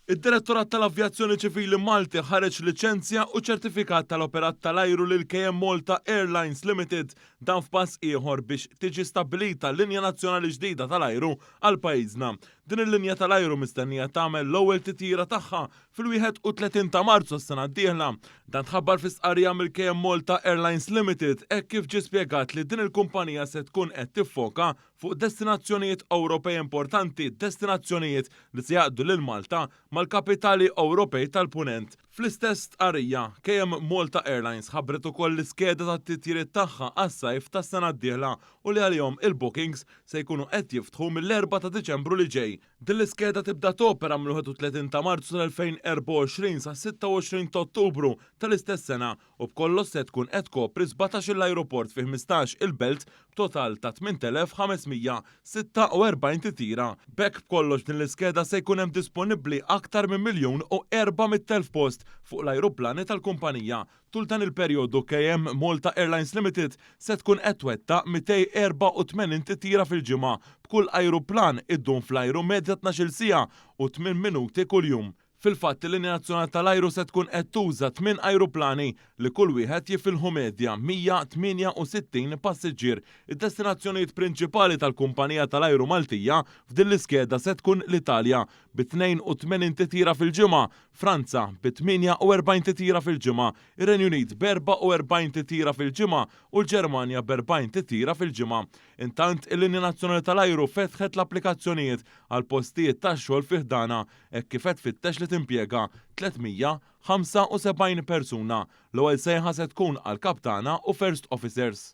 Id-Direttorat tal-Avjazzjoni Ċivili Malti ħareġ liċenzja u ċertifikat tal-operat tal-ajru lil KM Malta Airlines Limited, dan f'pass ieħor biex tiġi stabbilita linja nazzjonali ġdida tal-ajru għal pajjiżna. Din il-linja tal-ajru mistennija tagħmel l-ewwel titjira tagħha fil-31 ta' Marzu s-sena d-dieħla. Dan tħabbar fi stqarrija mill-KM Malta Airlines Limited hekk kif ġie spjegat li din il-kumpanija se tkun qed tiffoka fuq destinazzjonijiet Ewropej importanti, destinazzjonijiet li se jgħaqqdu lil Malta mal-kapitali Ewropej tal-Punent. Fl-istess stqarrija, KM Malta Airlines ħabbret ukoll l-iskeda tat-titjiriet tagħha għas-sajf tas-sena d-dieħla u li għalihom il-bookings se jkunu qed jiftħu mill-Erbgħa ta' Diċembru li ġej. Din l-iskeda tibda topera mill-31 ta' Marzu tal-2024 sas-26 t'Ottubru tal-istess sena u b'kollox se tkun qed tkopri sbatax-il ajruport fi ħmistax-il belt b'total ta' 8,546 titjira. B'hekk b'kollox f'din l-iskeda se jkun hemm disponibbli aktar minn miljun u erba' mitt elf post fuq l-ajruplani tal-kumpanija. Tul dan il-perjodu KM Malta Airlines Limited se tkun qed twettaq 284 titjira fil-ġimgħa, b'kull ajruplan iddum fl-ajru medja tnax-il siegħa u tmien minuti kuljum. Fil-fatt, il-linja nazzjonali tal-ajru se tkun qed tuża tmien ajruplani li kull wieħed jifilħu medja 168 passiġġier. Id-destinazzjonijiet prinċipali tal-kumpanija tal-ajru Maltija f'din l-iskeda se tkun l-Italja, bi 82 titjira fil-ġimgħa, Franza, bi 48 titjira fil-ġimgħa, ir-Renju Unit b'44 titjira fil-ġimgħa u l-Ġermanja b'40 titjira fil-ġimgħa. Intant, il-linja nazzjonali tal-ajru fetħet l-applikazzjonijiet għal postijiet tax-xogħol fi ħdanha, hekk kif qed tfittex li timpjega 375 persuna. L-ewwel sejħa se tkun għal kaptana u first officers.